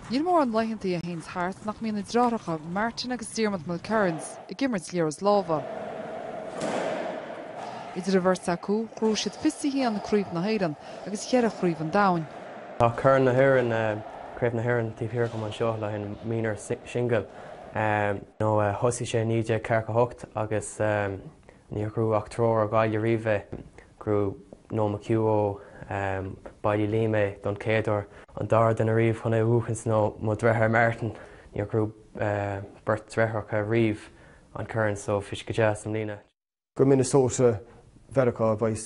Níl mórán laethanta a théanns thart nach mbíonn na dreithreacha, Martin agus Diarmuid Mulkerrins, ag imirt liathróid lámha. Idir an bheirt acu, ghnóthaigh siad 21 Craobh na hÉireann agus cheithre Chraobh an Domhain. Tá Corn na hÉireann, Craobh na hÉireann taobh thiar agam anseo le haghaidh an minor single. Thosaigh sé i 1948 agus níor ghnóthaigh ach triúr ó Ghaillimh riamh é. Ghnóthaigh Noel McHugh ó Baile Uilliam é don chéaduair, an dara duine riamh chun é a bhuachaint nó mo dhreitháir Martin. Níor ghnóthaigh beirt dhreithreacha riamh an corn so bhí sé go deas i mbliana. Go Minnesota Mheiriceá a bheas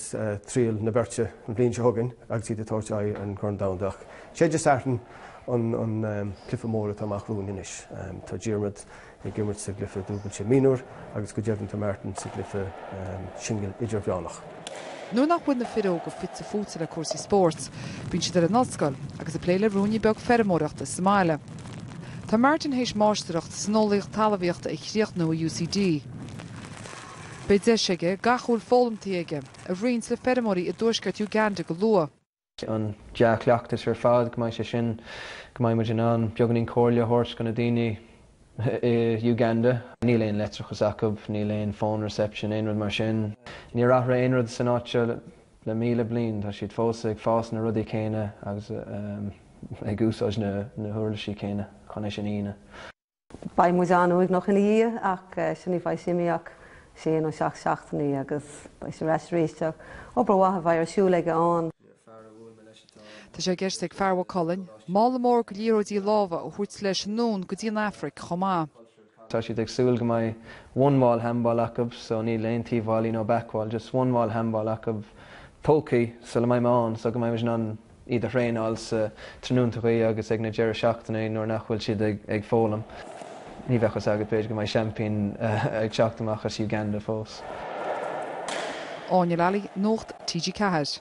triall na beirte an bhliain seo chugainn agus iad ag tabhairt aghaidh ar an gCorn Domhanda. Ach sé Dé Sathairn an cluiche mór atá amach romhainn anois. Tá Diarmaid ag imirt sa gcluiche dúbailte mionúr agus go deimhin tá Martin sa gcluiche singil idirmheánach. Nuair nach bhfuil na fir óga fite fuaite le cúrsaí spóirt, bíonn siad ar an ollscoil agus ag plé le ruainne beag feirmeoireachta sa mbaile. Tá Martin théis máistreacht san eolaíocht talamhaíochta a chríochnú i UCD. Beidh deis aige gach a bhfuil foghlamtaí aige a roinnt le feirmeoirí i dtuaisceart Uganda go luath. an dea-chleachtas ar fad, go mbeidh sé sin, go mbeidh muid in ann beagáinín comhairle a thabhairt go na daoine i Uganda. Níl aon leictreachas acu, níl aon phone reception, aon rud mar sin. Níor athraigh aon rud san áit seo le míle bliain, tá siad fós ag fás na rudaí céanna agus ag úsáid na huirlisí céanna chun é sin a dhéanamh. Beidh muid an-uaigneach ina dhiaidh ach sin ní bheidh sé imithe ach sé nó seacht seachtainí agus beidh sé ar ais arís. Tá obair mhaith a bheidh ar siúl aige ann. Tá sé i gceist ag fear Mhaigh Cuilinn mála mór go liathróidí lámha a thabhairt leis anonn go dtí an Afraic chomh maith. Tá siad ag súil go mbeidh one wall handball acu so níl aon taobh-bhallaí nó back wall, just one wall handball acu tógthaí sula mbeidh mé ann so go mbeidh muid in ann, iad a thraenáil sa tráthnóntachaí agus ag na deireadh seachtainí nuair nach bhfuil siad ag foghlaim. Ní bheadh fhios agat, b'fhéidir go mbeidh seaimpín ag teacht amach as Uganda fós. Áine Lally, Nuacht TG4.